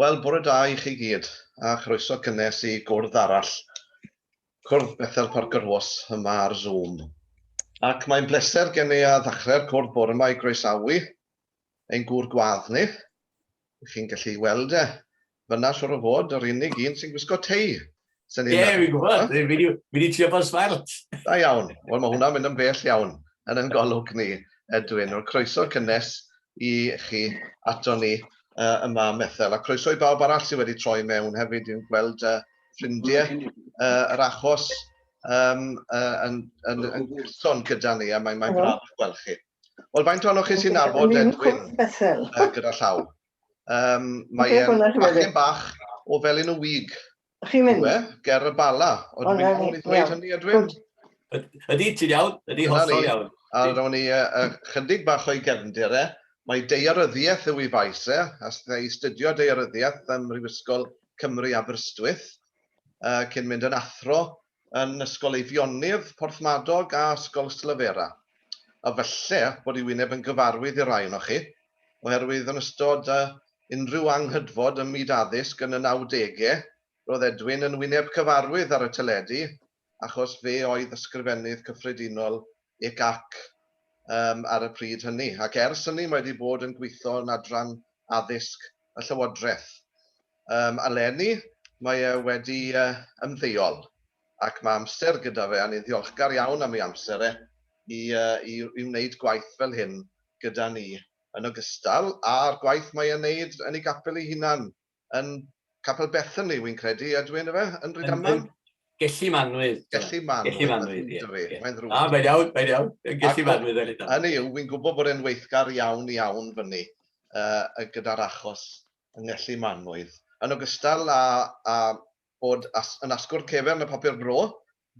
Wel, bore da i chi gyd, a chroeso cynnes i gwrdd arall, cwrdd Bethel Parker Horse yma ar Zoom. Ac mae'n bleser gen i a ddechrau'r cwrdd bore yma i groesawu ein gŵr gwadd ni, Dych chi'n gallu ei weld e. Fyna siwr o fod, yr unig un sy'n gwisgo tei. Ie, yeah, fi'n gwybod. Fi wedi trio bod smart. Da iawn. Wel, mae hwnna'n mynd yn bell iawn yn yn golwg ni, Edwin. Wel, croeso cynnes i chi ato ni uh, yma ym Methel. A croeso i bawb arall sydd wedi troi mewn hefyd i'n gweld uh, ffrindiau uh, yr achos um, uh, yn, yn, yn, yn gyda ni, a mae'n mae braf gweld chi. Wel, faint ohonoch chi sy'n nabod Edwin uh, gyda llaw? Um, mae e'n bachgen bach o fel un o wig. Chi'n mynd? Yw e? Ger y bala. Ond dwi'n iawn i ddweud hynny, Edwin? Ydy, ti'n iawn? Ydy, hollol iawn. A rown ni uh, chydig bach o'i gefndir e. Mae deiaryddiaeth yw ei faes e, a ei studio deiaryddiaeth ym Mhrifysgol Cymru Aberystwyth, uh, cyn mynd yn athro yn Ysgol Eifionydd Porthmadog a Ysgol Ystalyfera, a falle bod ei wyneb yn gyfarwydd i rai ohonoch chi, oherwydd yn ystod unrhyw anghydfod ym myd addysg yn y nawdegau, roedd Edwin yn wyneb cyfarwydd ar y teledu achos fe oedd Ysgrifennydd Cyffredinol UCAC yym ar y pryd hynny, ac ers hynny mae wedi bod yn gweithio yn adran addysg y Llywodraeth. Yym, eleni mae e wedi yy ymddeol, ac mae amser gyda fe, a ni'n ddiolchgar iawn am ei amser e, i yy i i wneud gwaith fel hyn gyda ni, yn ogystal â'r gwaith mae e'n wneud yn ei gapel ei hunan yn Capel Bethany, wi'n credu, ydw i yn efe, yn Rhydaman? Gelli Manwydd. Gelli Manwydd. Gelli Manwydd, ie. Mae'n ddrwg. Na, mae'n iawn, mae'n iawn. Gelli Manwydd yn Rhydaman. Hynny yw, wi'n gwybod bod e'n weithgar iawn, iawn fyny gyda'r achos yng Ngelli Manwydd. Yn ogystal â bod yn asgwrn cefn y papur bro,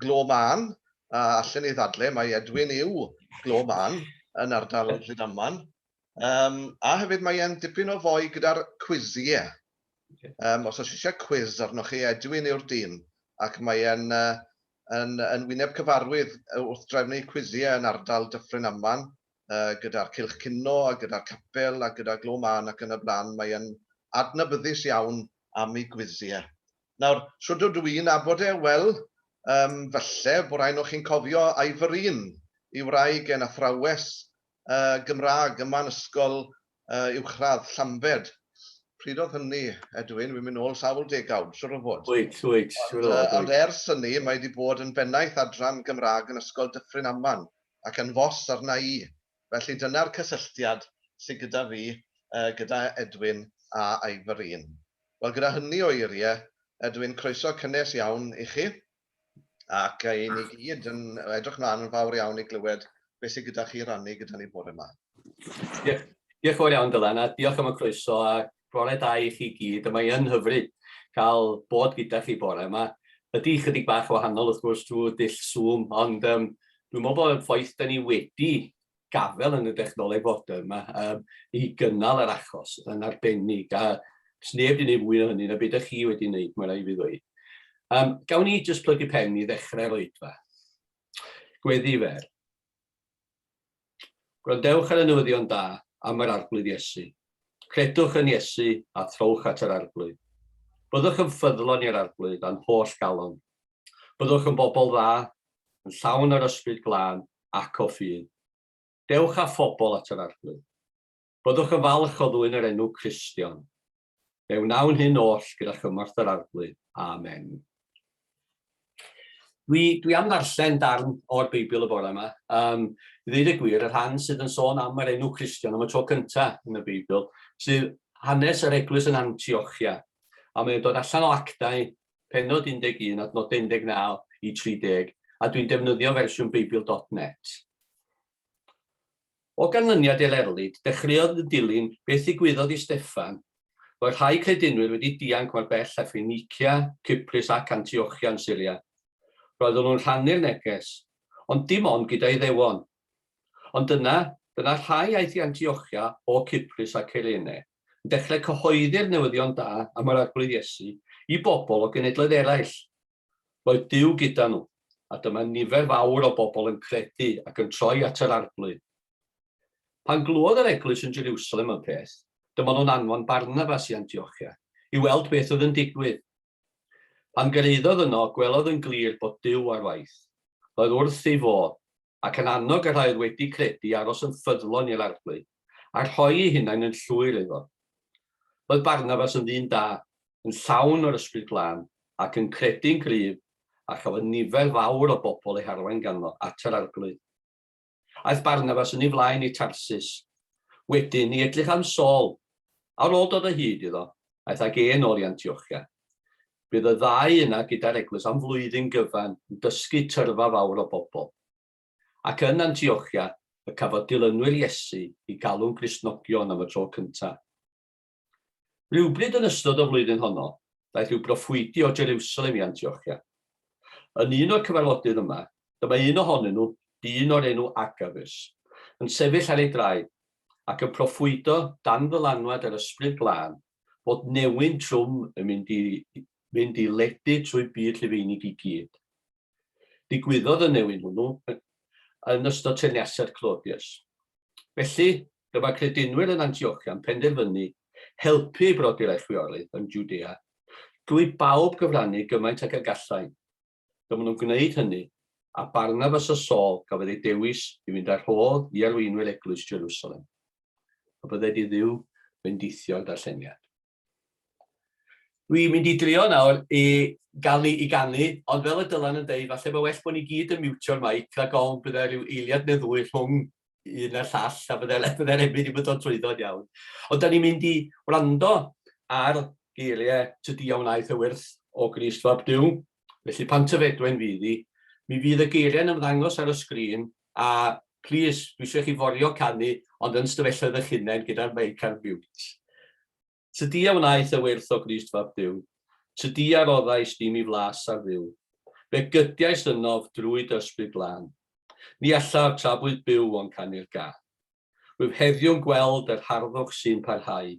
Glo Mân, a allen i ddadle mai Edwin yw Glo Mân yn ardal Rhydaman. Um, a hefyd mae e'n dipyn o foi gyda'r cwiziau. Okay. Um, os oes eisiau cwiz arnoch chi, Edwin yw'r dyn, ac mae e'n uh, yn, yn wyneb cyfarwydd wrth drefnu cwiziau yn ardal Dyffryn Aman, uh, gyda'r Cilch Cino a gyda'r Capel a gyda Glo Man ac yn y blaen. Mae e'n adnabyddus iawn am ei gwiziau. Nawr, so dod dwi'n abod e, wel, um, falle bod rhaid o'ch chi'n cofio Ivorine, i wraig e'n athrawes Gymraeg ym man ysgol uwchradd Llambed. Pryd oedd hynny, Edwin? Wi'n mynd nôl sawl degawd, siŵr o fod. Wyt, wyt, siŵr o fod, wyt. Ond ers hynny, mae 'di bod yn bennaeth adran Gymraeg yn Ysgol Dyffryn Aman, ac yn fos arna i. Felly dyna'r cysylltiad sy gyda fi gyda Edwin a Ifyrîn. Wel, gyda hynny o eirie, Edwin, croeso cynnes iawn i chi. Ac i ni gyd yn edrych mlaen yn fawr iawn i glywed beth sydd gyda chi rannu gyda ni bore yma. Diolch, diolch fawr iawn Dylan a diolch am y croeso a bore da i chi gyd. Mae yn hyfryd cael bod gyda chi bore yma. Ydy chydig bach o wahanol wrth gwrs drwy dull Zoom, ond um, dwi'n meddwl bod y ffaith da ni wedi gafael yn y dechnoleg fodern 'ma yym i gynnal yr achos yn arbennig a does neb 'di neud fwy o hynny na be' 'dach chi wedi neud ma' raid fi ddweud. Yym gawn ni jyst plygu pen i ddechrau'r oedfa. Gweddi fer. Gwrandewch ar y newyddion da am yr Arglwydd Iesu. Credwch yn Iesu a throwch at yr Arglwydd. Byddwch yn ffyddlon i'r Arglwydd a'n holl galon. Byddwch yn bobl dda, yn llawn yr Ysbryd Glân ac o ffydd. Dewch â phobl at yr Arglwydd. Byddwch yn falch o ddwyn yr enw Cristion. Fe wnawn hyn oll gyda chymorth yr Arglwydd. Amen. Dwi, dwi am ddarllen darn o'r Beibl y bore yma. Um, I ddweud y gwir, y rhan sydd yn sôn am yr enw Christian am y tro cyntaf yn y Beibl, sydd hanes yr eglwys yn Antiochia. A mae'n dod allan o actau Pennod 11, adnodau 19 i 30, a dwi'n defnyddio fersiwn Beibl dot net. O ganlyniad i'r erlid, dechreuodd yn dilyn beth ddigwyddodd i Steffan. Roedd rhai credinwyr wedi dianc mor bell â Ffeinicia, Cyprus ac Antiochia yn Syria. Roedden nhw'n rhannu'r neges, ond dim ond gyda Iddewon. Ond dyna, dyna rhai aeth i Antiochia o Cyprus a Cyrene. yn dechrau cyhoeddi'r newyddion da am yr Arglwydd Iesu i bobl o genedloedd eraill. Roedd Duw gyda nhw, a dyma nifer fawr o bobl yn credu ac yn troi at yr Arglwydd. Pan glywed yr eglwys yn Jerusalem y peth, dyma nhw'n anfon Barnabas i Antiochia i weld beth oedd yn digwydd. Pan gyrhaeddodd yno, gwelodd yn glir bod Duw ar waith. Roedd wrth ei fodd. ac yn annog y rhai oedd wedi credu i aros yn ffyddlon i'r Arglwydd, a rhoi'u hunain yn llwyr iddo. Roedd Barnabas yn ddyn da, yn llawn o'r Ysbryd Glân, ac yn credu'n gryf, a chafodd nifer fawr o bobl eu harwain ganddo at yr Arglwydd. Aeth Barnabas yn ei flaen i Tarsus. Wedyn, i edrych am Saul, a ar ôl dod o hyd iddo, aeth ag e'n ôl i Antiochia. Bydd y ddau yna gyda'r eglwys am flwyddyn gyfan yn dysgu tyrfa fawr o bobl. Ac yn Antiochia y cafodd dilynwyr Iesu eu galw'n Gristnogion am y tro cyntaf. Rhywbryd yn ystod y flwyddyn honno, daeth rhyw broffwydi o Jerusalem i Antiochia. Yn un o'r cyfarfodydd yma, dyma un ohonyn nhw, dyn o'r enw Agabus, yn sefyll ar ei draed, ac yn proffwydo dan ddylanwad yr Ysbryd Glân, fod newyn trwm yn mynd i fynd i ledu trwy byd Rhufeinig i gyd. Digwyddodd y newyn hwnnw yn ystod teyrnasiad Claudius. Felly, dyma credinwyr yn Antiochia'n penderfynu helpu i brodi'r a'i chwiorydd yn Jwdea drwy bawb gyfrannu gymaint ag y gallai. Dyma nhw'n gwneud hynny, a Barnabas a Saul gafodd eu dewis i fynd â'r rhodd i arweinwyr eglwys Jerusalem. A byddai di ddiw bendithio'r darlleniad. Dwi'n mynd i drio nawr i gael ni i ganu, ond fel y dylan yn deud, falle mae well bod ni gyd yn miwtio'r maic, rhag ofn byddai rhyw eiliad neu ddwy rhwng un a'r llall, a byddai'r efydd yn mynd yn dod trwyddo'n iawn. Ond da ni'n mynd i wrando ar geiriau tydi a wnaeth y wyrth o Grist Fab Dyw, felly pan tyfedwen fydd i, mi fydd y geiriau yn ymddangos ar y sgrin, a plis, dwi eisiau chi forio canu, ond yn stafelloedd eich hunain gyda'r meic ar mute. Tydi a wnaeth y wyrth o Grist fab Duw, tydi a roddais di mi flas ar Dduw, fe gydiais ynof drwy d'Ysbryd Glân, ni allaf tra bwyf byw ond canu'r gân. Rwyf heddiw'n gweld yr harddwch sy'n parhau,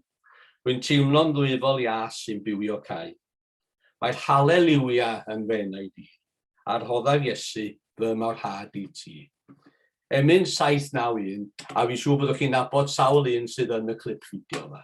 rwy'n teimlo'n ddwyfol iâs sy'n bywio cau. Mae'r Halleliwia yn fy enaid i, a rhoddaf Iesu fy morhad i ti. Emyn 791, a fi'n siŵr byddwch chi'n nabod sawl un sydd yn y clip fideo yma.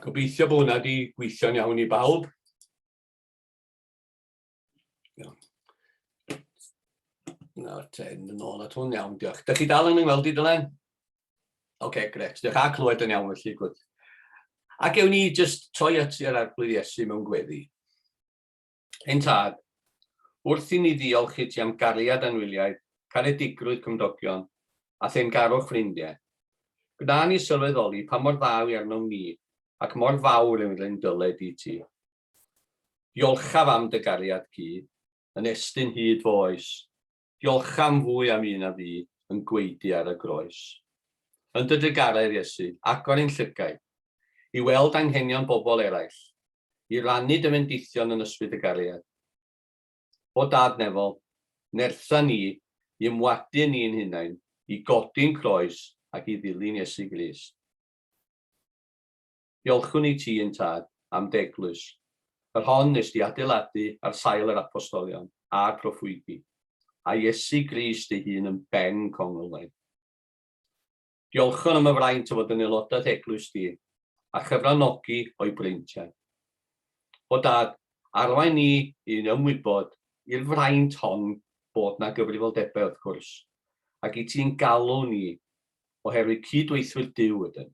Gobeithio bod hwnna wedi gweithio'n iawn i bawb. Na, ten yn ôl at hwn iawn, diolch. Dych chi dal yn ymweld i dylen? Oce, okay, gret. Diolch a clywed yn iawn felly, gwrdd. Ac ewn ni jyst troi at yr arglwydd Iesu mewn gweddi. Ein Tad, wrth i ni ddiolch i ti am gariad anwyliaid, caredigrwydd cymdogion, a theyrngarwch ffrindie, gwna ni sylweddoli pa mor dda yw arnom ni ac mor fawr yw ein dyled i ti. Diolchaf am dy gariad cudd, yn estyn hyd fo oes, Diolch am fwy am un a fu yn gwaedu ar y groes. Yn dy drugaredd, Iesu, agor ein llygaid i weld anghenion bobl eraill, i rannu dy fendithion yn ysbryd y gariad. O Dad nefol, nertha ni i ymwadu â ni'n hunain, i godi'n croes ac i ddilyn Iesu Grist. Diolchwn i ti, un Tad, am dy eglwys, yr hon wnes di adeiladu ar sail yr Apostolion a'r Proffwydi, a Iesu Grist ei hun yn Ben Congl-waith. Diolchwn am y fraint o fod yn aelodaeth eglwys di, a chyfranogi o'i breintiau. O Dad, arwain ni i'n ymwybod i'r fraint hon bod na gyfrifoldebau wrth gwrs, ac i ti'n galw ni oherwydd cyd-weithwyr Duw ydym.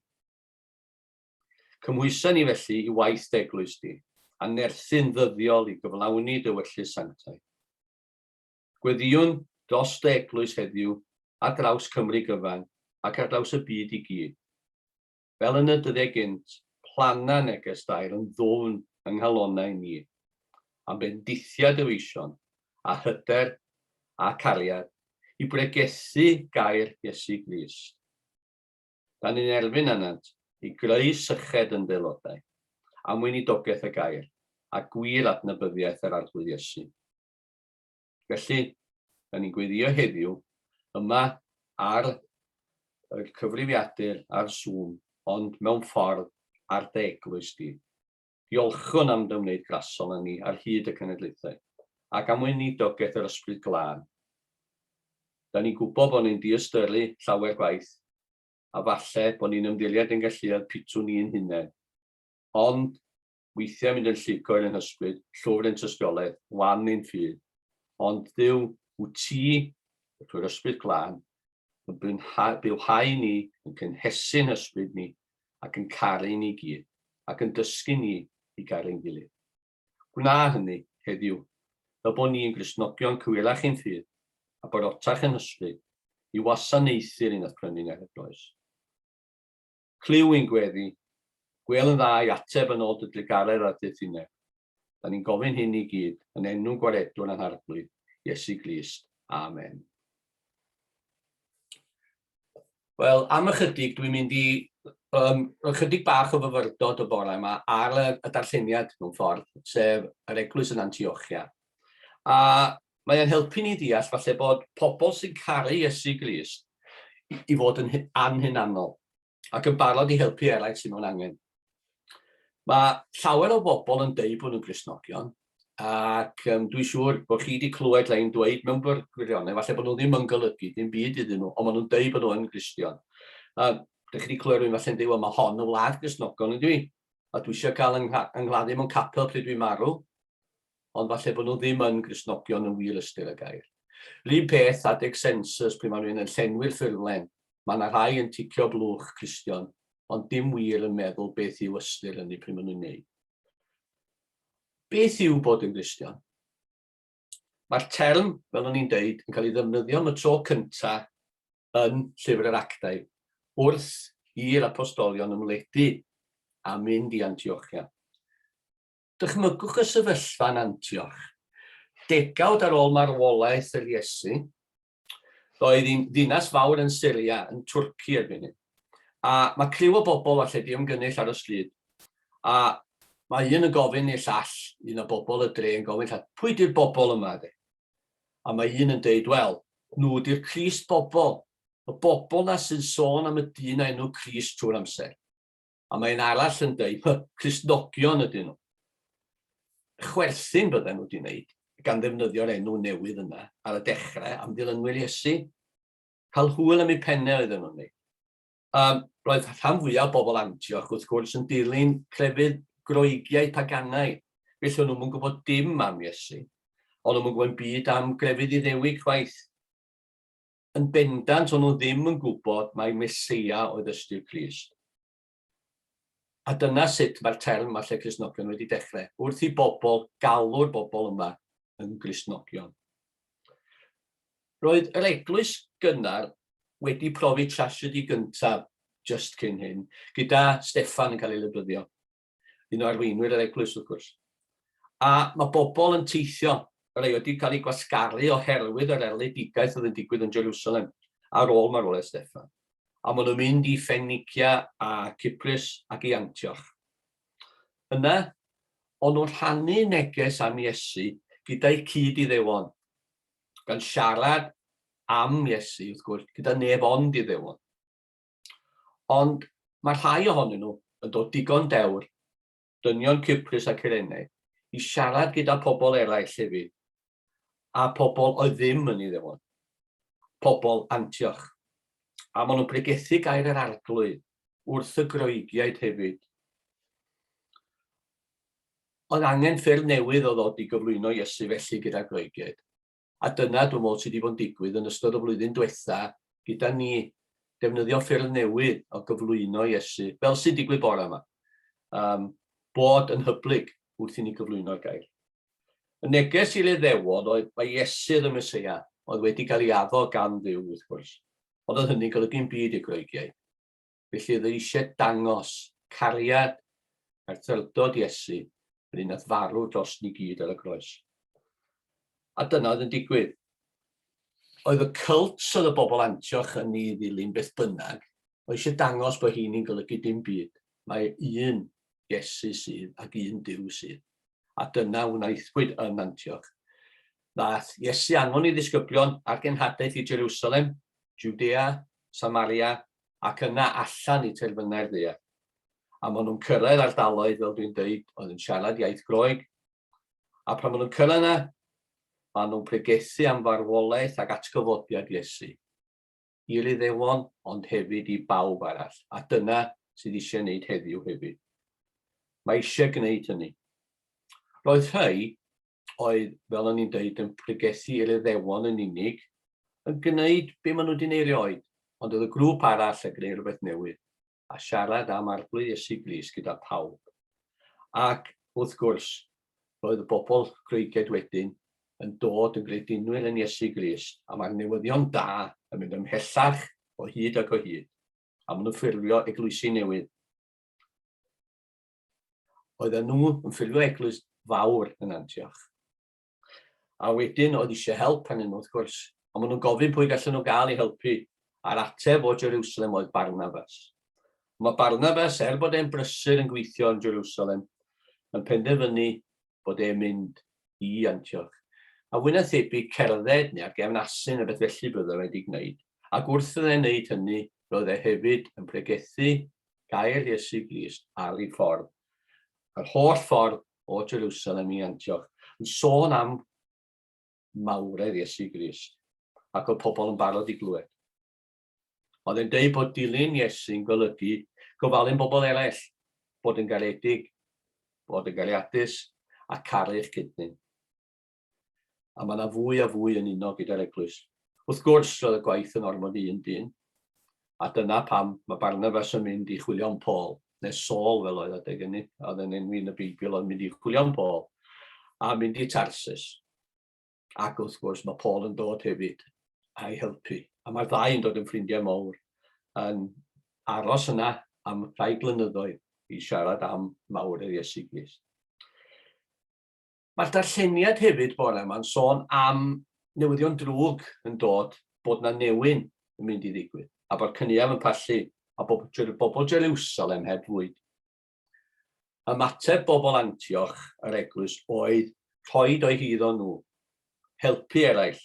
Cymhwysa ni felly i waith d'eglwys di, a nerthu'n ddyddiol i gyflawni dy wellus sanctaidd. Gweddïwn dros dy eglwys heddiw ar draws Cymru gyfan ac ar draws y byd i gyd. Fel yn y dyddie gynt, plana neges dail yn ddwfn yng nghalonau ni, am bendithia dy feision, a hyder, a cariad, i bregethu gair Iesu Grist. Da ni'n erfyn arnynt i greu syched yn d'aelodau, am weinidogaeth y gair, a gwir adnabyddiaeth yr Arglwydd Iesu. Felly, da ni'n gweddïo heddiw, yma ar y cyfrifiadur ar Zoom, ond mewn ffordd ar dy eglwys di. Diolchwn am dy ymwneud grasol â ni ar hyd y cenedlaethau, ac am weinidogaeth yr Ysbryd Glân. Da ni'n gwybod bod ni'n diystyru llawer gwaith, a falle bod ni'n ymddiried ein galluedd pitw ni'n hunain. Ond, weithiau mynd yn llicoer yn hysbryd, llwfr ein tystiolaeth, wan ein ffydd. Ond, Dduw, wyt ti, trwy'r Ysbryd Glân, yn bywhau ni, yn cynhesu'n hysbryd ni, ac yn caru ni gyd, ac yn dysgu ni i garu'n gilydd. Gwna hynny, heddiw, fel bod ni'n Gristnogion cywirach i'n ffydd, a barotach yn hysbryd, i wasanaethu'r un a'th prynu ni ar y groes. Clyw ein gweddi, gwêl yn dda i ateb yn ôl dy drugaredd a'r dy thineb. Da ni'n gofyn hyn i gyd yn enw Gwaredwr a'n Harglwydd, Iesu Grist. Amen. Wel, am ychydig, dwi'n mynd i um, ychydig bach o fyfyrdod y bore yma ar y, y darlleniad mewn ffordd, sef yr eglwys yn Antiochia. A mae'n helpu ni ddeall falle bod pobl sy'n caru Iesu Grist i fod yn anhunanol. ac yn barod i helpu eraill sydd mewn angen. Mae llawer o bobl yn deud bod nhw'n grisnogion, ac um, dwi'n siŵr bod chi wedi clywed rhain dweud mewn gwirionedd, falle bod nhw ddim yn golygu dim byd iddyn nhw, ond maen nhw'n deud bod nhw'n gristion. A dych chi wedi clywed rhywun falle'n deud, wel mae hon y wlad grisnogion yn dwi, a dwi eisiau cael yng, yng mewn capel pryd dwi'n marw. ond falle bod nhw ddim yn Gristnogion yn wir ystyr y gair. Rhyw peth adeg sensws pryd mae rhywun yn llenwi'r ffurflen, mae yna rhai yn ticio blwch Cristion, ond dim wir yn meddwl beth yw ystyr hynny pryd maen nhw'n neud. Beth yw bod yn Gristion? Mae'r term, fel o'n i'n deud, yn cael ei ddefnyddio am y tro cynta yn Llyfr yr Actau, wrth i'r apostolion ymledu a mynd i Antiochia. Dychmygwch y sefyllfa yn Antioch. Degawd ar ôl marwolaeth yr Iesu, roedd hi'n ddinas fawr yn Syria, yn Twrci erbyn hyn. A mae criw o bobl falle di ymgynnull ar y stryd, a mae un yn gofyn i'r llall, un o bobl y dre yn gofyn llall, pwy di'r bobl yma de? A mae un yn deud, wel, nhw di'r Crist bobl, y bobl na sy'n sôn am y dyn a enw Crist trwy'r amser. A mae un arall yn dweud, hy, Cristnogion ydyn nhw. Chwerthin bydden nhw wedi wneud, gan ddefnyddio'r enw newydd yna ar y dechrau am ddilynwyr Iesu. Cael hwyl am eu pennau oedden nhw'n wneud. Um, roedd rhan fwyaf o bobl Antioch, wrth gwrs, yn dilyn crefydd groegiau paganau. Felly o'n nhw'n gwybod dim am Iesu. O'n nhw'n gwybod byd am grefydd iddewig chwaith. Yn bendant o'n nhw ddim yn gwybod mai Meseia oedd ystyr Crist. A dyna sut mae'r term 'ma lle Cristnogion wedi dechrau, wrth i bobl galw'r bobl yma yn Gristnogion. Roedd yr eglwys gynnar wedi profi trasiedi gyntaf just cyn hyn, gyda Steffan yn cael ei lybyddio. un o arweinwyr yr eglwys wrth gwrs. A mae bobl yn teithio, yr ei wedi cael ei gwasgaru oherwydd yr erledigaeth oedd yn digwydd yn Jerusalem ar ôl marwolaeth Steffan. A maen nhw'n mynd i Ffenicia a Cyprus ac i Antioch. Yna, ond nhw'n rhannu neges am Iesu gyda'i cyd iddewon, gan siarad am Iesu, wrth gwrs, gyda neb ond iddewon. Ond mae rhai ohonyn nhw yn dod digon dewr, dynion Cyprus a Cyrenaidd, i siarad gyda pobl eraill hefyd, a pobl oedd ddim yn Iddewon, pobl Antioch. A maen nhw'n pregethu gair yr Arglwydd wrth y Groegiaid hefyd. Oedd angen ffyrdd newydd o ddod i gyflwyno Iesu felly gyda'r Groegiaid. A dyna, dwi'n meddwl, sydd wedi bod yn digwydd yn ystod y flwyddyn diwetha' gyda ni, defnyddio ffyrdd newydd o gyflwyno Iesu, fel sy'n digwydd bore yma, um, bod yn hyblyg wrth i ni gyflwyno'r gair. Y neges i'r Iddewon oedd mae Iesu oedd y Mesoea, oedd wedi cael ei addo gan Dduw, wrth gwrs. Ond oedd hynny'n golygu'n byd i'r Groegiaid. Felly oedd e eisiau dangos cariad a thrydod Iesu yn un nath farw dros ni gyd ar y groes. A dyna oedd yn digwydd. Oedd y cult oedd y bobl Antioch yn ei ddilyn beth bynnag, oedd eisiau dangos bod hi'n ni'n golygu dim byd. Mae un Iesu sydd ac un Dyw sydd. A dyna wnaethpwyd yn Antioch. Ddaeth Iesu anfon ei ddisgyblion a'r genhadaeth i Jerusalem, Judea, Samaria ac yna allan i terfynau'r ddaear. A maen nhw'n cyrraedd ardaloedd, fel dwi'n dweud, oedd yn siarad iaith Groeg. A pan maen nhw'n cyrraedd yna, maen nhw'n pregethu am farwolaeth ac atgyfodiad Iesu i'r Iddewon, ond hefyd i bawb arall. A dyna sydd eisiau gwneud heddiw hefyd. Mae eisiau gwneud hynny. Roedd rhai oedd, fel o'n i'n dweud, yn pregethu i'r Iddewon yn unig, yn gwneud be maen nhw wedi gwneud erioed, ond oedd y grŵp arall yn gwneud rhywbeth newydd, a siarad am arglwydd Iesu Gris gyda pawb. Ac, wrth gwrs, roedd y bobl Groeged wedyn yn dod yn gredinwyr yn Iesu Gris, a mae'r newyddion da yn mynd ymhellach o hyd ac o hyd, a maen nhw'n ffurfio eglwysi newydd. Oedden nhw yn ffilio eglwys fawr yn Antioch. A wedyn oedd eisiau help pan nhw, wrth gwrs. Ond maen nhw'n gofyn pwy gallen nhw gael ei helpu. A'r ateb o Jerusalem oedd Barnabas. Mae Barnabas, er bod e'n brysur yn gweithio yn Jerusalem, yn penderfynu bod e'n mynd i Antioch. A fwy na thebyg cerdded neu ar gefn asyn a beth felly byddai wedi gwneud. Ac wrth iddo wneud hynny, roedd e hefyd yn pregethu gair Iesu Grist ar ei ffordd, yr holl ffordd o Jerusalem i Antioch, yn sôn am mawredd Iesu Grist, ac oedd pobl yn barod i glywed. Oedd e'n dweud bod dilyn Iesu'n golygu gofalun bobl eraill, bod yn garedig, bod yn gariadus, a caru'ch cydnyn. a mae yna fwy a fwy yn uno gyda'r eglwys. Wrth gwrs, roedd y gwaith yn ormod i un dyn, a dyna pam mae Barnabas yn mynd i chwilio am Paul, neu Saul fel oedd adeg ynny, oedd yn enwi yn y Beibl oedd mynd i chwilio am Paul, a mynd i Tarsus. Ac wrth gwrs mae Paul yn dod hefyd a'i helpu. A mae'r ddau yn dod yn ffrindiau mawr yn aros yna am rhai blynyddoedd i siarad am mawr yr Iesu Grist. Mae'r darlleniad hefyd bore yma'n sôn am newyddion drwg yn dod bod na newyn yn mynd i ddigwydd, a bod cynial yn pallu a bod bobl Jerwsalem heb fwyd. Ymateb bobl Antioch yr eglwys oedd rhoi doi hydd o nhw, helpu eraill,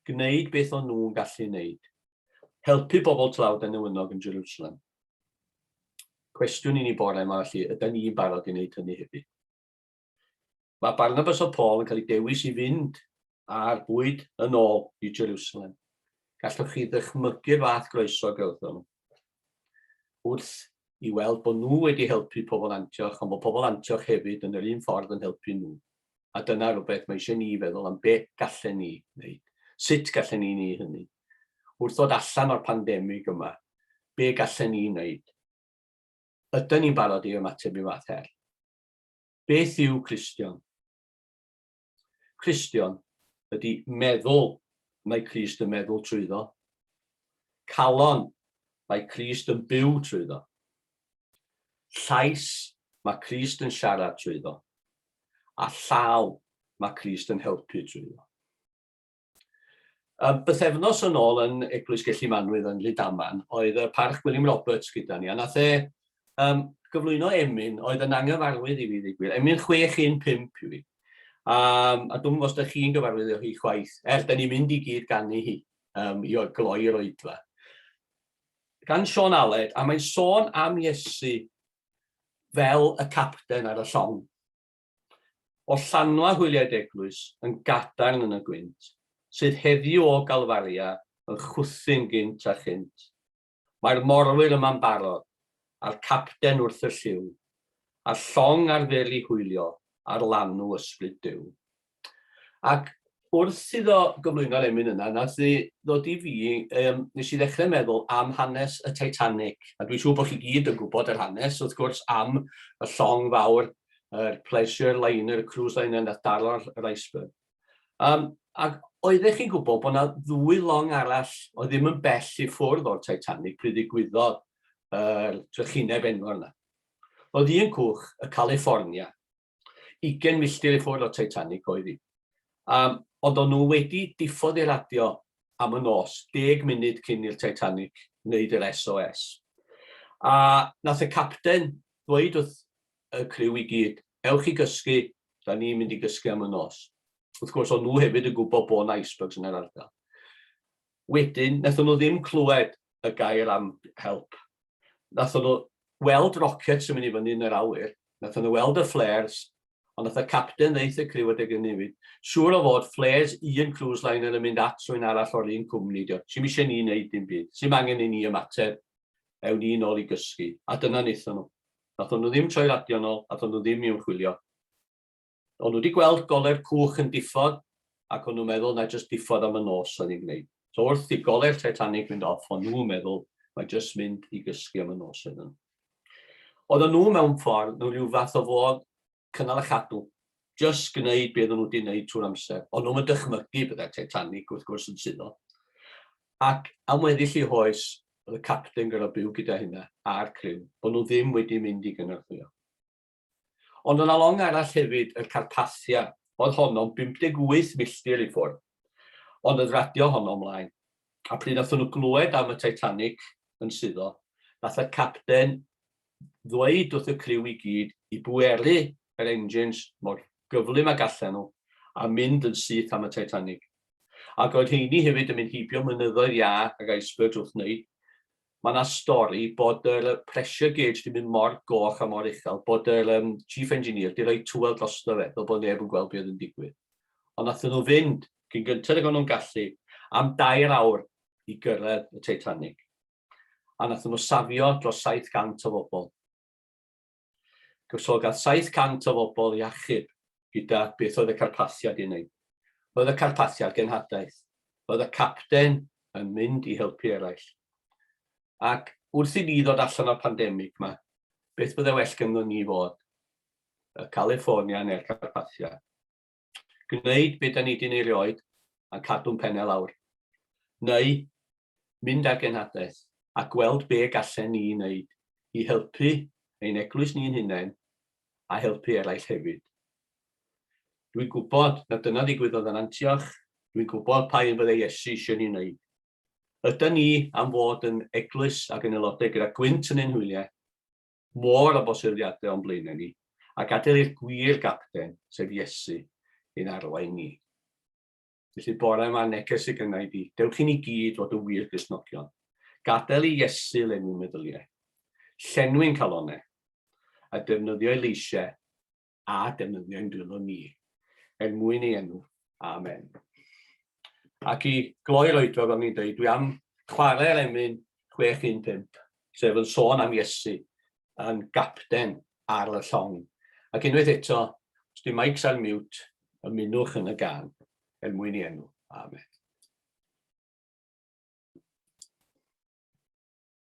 gwneud beth o'n nhw'n gallu wneud, helpu bobl tlawd a newynog yn Jerwsalem. Cwestiwn i ni bore yma felly, ydy ni'n barod i wneud hynny hefyd? Mae Barnabas a Paul yn cael eu dewis i fynd â'r bwyd yn ôl i Jerusalem. Gallwch chi ddychmygu'r fath groeso gawthon nhw wrth i weld bod nhw wedi helpu pobl Antioch, ond bod pobl Antioch hefyd yn yr un ffordd yn helpu nhw. A dyna rhywbeth mae eisiau ni feddwl am beth gallen ni wneud. Sut gallen ni ni hynny? Wrth ddod allan o'r pandemig yma, be gallen ni wneud? Ydy ni'n barod i ymateb i fath her? Beth yw Cristion? Cristion ydy meddwl mae Crist yn meddwl trwyddo. Calon mae Crist yn byw trwyddo. Llais mae Crist yn siarad trwyddo. A llaw mae Crist yn helpu trwyddo. Yym, bythefnos yn ôl yn Eglwys Gelli Manwydd yn Rhydaman, oedd y Parch Gwilym Roberts gyda ni, a nath e um, gyflwyno emyn oedd yn anghyfarwydd i fi ddigwydd. Emyn 615 i fi. Um, a dwi'n os da chi'n gyfarwydd â hi chwaith, er da ni'n mynd i gyd ganu hi um, i gloi'r oedfa. Gan Sean Aled, a mae'n sôn am Iesu fel y capten ar y llong. O Llanwa hwyliaid eglwys yn gadarn yn y gwynt, sydd heddiw o Galfaria yn chwthu'n gynt a chynt. Mae'r morwyr yma'n barod, a'r capten wrth y llyw, a'r llong ar fyr i hwylio ar lanw Ysbryd Duw. Ac wrth iddo gyflwyno'r emyn yna, nath e ddod i fi, um, nes i ddechrau meddwl am hanes y Titanic, a dwi'n siŵr bod chi gyd yn gwybod yr hanes, wrth gwrs, am y llong fawr, yr er pleasure liner, y cruise liner nath daro yr iceberg. Um, ac oeddech chi'n gwybod bod yna ddwy long arall o ddim yn bell i ffwrdd o'r Titanic pryd ddigwyddodd yr er, drychineb enfawr yna. Oedd un cwch, y California, 20 milltir i ffwrdd o Titanic oedd hi. Um, ond o'n nhw wedi diffodd i radio am y nos, deg munud cyn i'r Titanic wneud yr SOS. A nath y capten ddweud wrth y criw i gyd, ewch i gysgu, da ni'n mynd i gysgu am y nos. Wrth gwrs, o'n nhw hefyd yn gwybod bod yna icebergs yn yr ardal. Wedyn, nathon nhw ddim clywed y gair am help. Nathon nhw weld rockets yn mynd i fyny yn yr awyr, nathon nhw weld y flares, ond nath y capten ddeith y criw adeg ynny yw, siŵr o fod flares un cruise liner yn mynd at rhywun arall o'r un cwmni ydi o, sim eisiau ni wneud dim byd, sim angen i ni ymateb, ewn ni nôl i gysgu. A dyna naethon nhw. Nathon nhw ddim troi radio'n ôl, nathon nhw ddim i ymchwilio. O'n nhw wedi gweld gole'r cwch yn diffodd ac o'n nhw'n meddwl na jyst diffodd am y nos o'n i'n gwneud. So wrth i gole'r Titanic fynd off, o'n nhw'n meddwl mae jyst mynd i gysgu am y nos oedd nhw. Oedden nhw mewn ffordd, nhw rhyw fath o fod cynnal a chadw, jyst gwneud beth o'n nhw wedi gwneud trwy'r amser. O'n nhw'n dychmygu byddai'r Titanic wrth gwrs yn suddo. Ac am weddill i hoes, oedd y capten gyda byw gyda hynna a'r criw, bod nhw ddim wedi mynd i gynorthwyo. Ond yna long arall hefyd, y Carpathia, oedd honno'n 58 milltir i ffwrdd. Ond oedd radio honno ymlaen. A pryd nathon nhw glywed am y Titanic yn suddo, nath y capten ddweud wrth y criw i gyd i bweru yr engines mor gyflym a gallen nhw a mynd yn syth am y Titanic. Ac oedd rheiny hefyd yn mynd heibio mynyddoedd iâ ac icebergs wrth wneud ma na stori bod yr yy pressure gauge di mynd mor goch a mor uchel bod yr yym chief engineer di roi tŵel drosto fe fel bod neb yn gweld be oedd yn digwydd ond nathon nhw fynd cyn gynted ag o'n nhw'n gallu am dair awr i gyrraedd y Titanic a nathon nhw safio dros 700 o fobl. Gwrthododd 700 o fobl ei achub gyda beth oedd y Carpathiad i wneud. Roedd y Carpathiad genhadaeth. Roedd y capten yn mynd i helpu eraill. Ac wrth i ni ddod allan o'r pandemig yma, beth byddai well ganddo ni fod? Y California neu'r Carpathiad? gwneud be da ni di neu rioed a cadw'n penne lawr. Neu, mynd â'r genhadaeth a gweld be gallen ni wneud i helpu ein eglwys ni'n hunain a helpu eraill hefyd. Dwi'n gwybod na dyna ddigwyddodd yn Antioch, dwi'n gwybod pa un fydde Iesu eisiau ni wneud. Yda ni am fod yn eglwys ac yn aelodau gyda gwynt yn ein hwyliau, Môr o bosyfiadau o'n blaenau ni, a gadael i'r gwir gapten, sef Iesu, ein arwain ni. Felly bore yma neges y gynnau di, dewch i ni gyd fod yn wir Gristnogion. Gadael i Iesu lenwi meddyliau, llenwi'n calonau, a defnyddio ei leisiau a defnyddio ein dwylo ni, er mwyn ei enw. Amen. Ac i gloi'r oedfa, fel ni'n dweud, dwi am chwarae'r emyn 615, sef yn sôn am Iesu yn gapten ar y llong. Ac unwaith eto, os di mics ar miwt, ymunwch yn y gan, er mwyn i enw. Amen.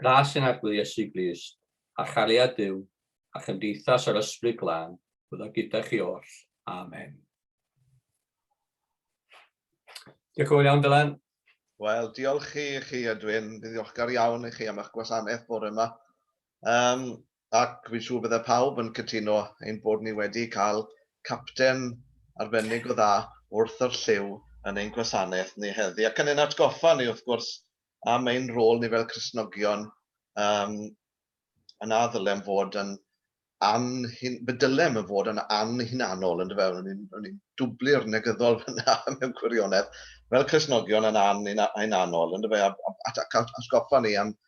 Gras yn agwedd Iesu Grist, a chariad Duw, a chymdeithas yr Ysbryd Glân, bydd o gyda chi oll. Amen. Diolch yn fawr iawn, Dylan. Wel, diolch i chi, Edwin. Dwi'n ddiolchgar iawn i chi am eich gwasanaeth bore yma. Um, Ac fi'n siŵr bydde pawb yn cytuno ein bod ni wedi cael capten arbennig o dda wrth yr llyw yn ein gwasanaeth ni heddi, ac yn ein atgoffa ni, wrth gwrs, am ein rôl ni fel Cristnogion, yym, a na ddylem fod yn anhun- be dylem yn fod yn anhunanol, yndyfe? O'n i'n, o'n i'n dwblu'r negyddol fyna mewn gwirionedd. Fel Cristnogion yn an- hunanol, yndyfe? A, a, a, a atgoffa ni am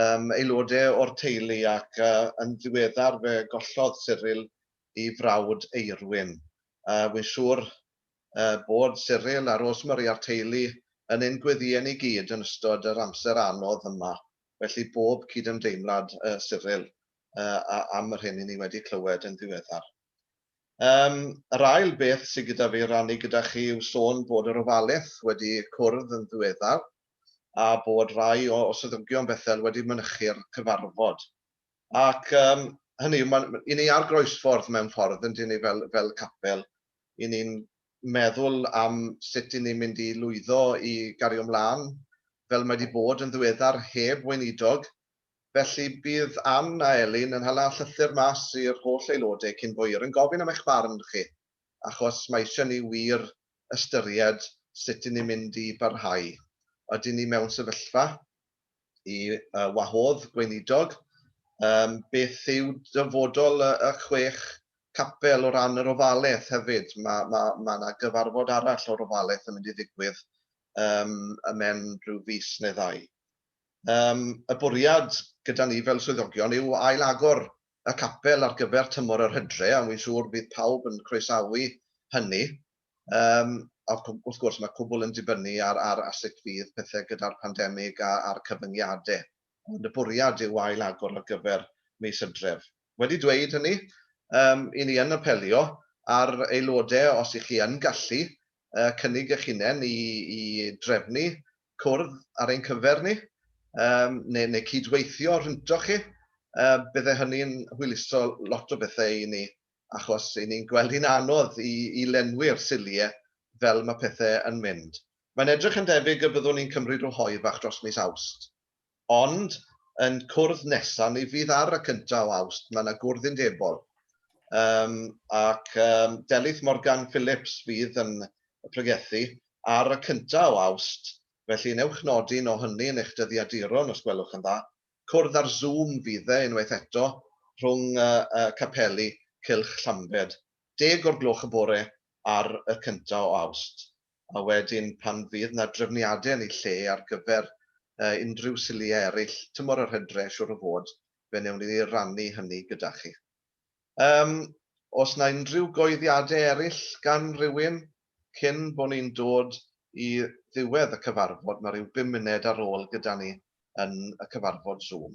um, aelodau o'r teulu ac uh, yn ddiweddar fe gollodd Cyril i frawd Eirwyn. Uh, Wy'n siŵr uh, bod Cyril a Rosemary a'r teulu yn ein gweddïau ni gyd yn ystod yr amser anodd yma. Felly bob cydymdeimlad uh, Cyril uh, am yr hyn i ni wedi clywed yn ddiweddar. Um, yr ail beth sydd gyda fi rannu gyda chi yw sôn bod yr ofaleth wedi cwrdd yn ddiweddar. a bod rhai o swyddogion Bethel wedi mynychu'r cyfarfod. Ac yym, hynny yw, ma- i ni ar groesffordd mewn ffordd, yndyn ni, fel, fel capel. I ni'n meddwl am sut i ni'n mynd i lwyddo i gario mlaen, fel mae 'di bod yn ddiweddar, heb Weinidog. Felly, bydd Ann a Elin yn hala llythyr mas i'r holl aelodau cyn hwyr yn gofyn am eich barn chi, achos mae eisiau ni wir ystyried sut y'n ni'n mynd i barhau. Ydyn ni mewn sefyllfa i wahodd gweinidog? Yym, beth yw dyfodol y chwech capel o ran yr ofaleth hefyd? Ma', ma', ma' 'na gyfarfod arall o'r ofaleth yn mynd i ddigwydd yym ym mhen rhyw fis neu ddau. Yym, y bwriad gyda ni fel swyddogion yw ail-agor y capel ar gyfer tymor yr hydre, a wi'n siŵr bydd pawb yn croesawu hynny. Yym, a wrth gwrs, mae cwbl yn dibynnu ar ar a sut fydd pethe gyda'r pandemig a a'r cyfyngiade. Ond y bwriad yw ail-agor ar gyfer mis Hydref. Wedi dweud hynny, yym, 'yn ni yn apelio ar aelode os 'ych chi yn gallu yy cynnig 'ych hunen i i drefnu cwrdd ar ein cyfer ni yym neu neu cyd-weithio rhyntoch chi, yy bydde hynny'n hwyluso lot o bethe i ni achos 'yn ni'n gweld hi'n anodd i i lenwi'r silie fel ma' pethe yn mynd. Mae'n edrych yn debyg y byddwn ni'n cymryd ryw hoe bach dros mis Awst. Ond yn cwrdd nesa ni fydd ar y cynta o Awst mae na gwrdd undebol yym ac yym Delyth Morgan Phillips fydd yn pregethu ar y cynta o Awst felly newch nodi un o hynny yn eich dyddiaduron os gwelwch yn dda. Cwrdd ar Zoom fydd e unwaith eto rhwng yy yy capeli Cylch Llambed. Deg o'r gloch y bore ar y cynta o Awst. a wedyn pan fydd 'na drefniadau yn eu lle ar gyfer unrhyw siliau eraill tymor yr hydre, siŵr o fod, fe wnewn ni rannu hynny gyda chi. Yym, oes 'na unrhyw goeddiadau eraill gan rywun cyn bo' ni'n dod i ddiwedd y cyfarfod, ma' ryw bum munud ar ôl gyda ni yn y cyfarfod Zoom.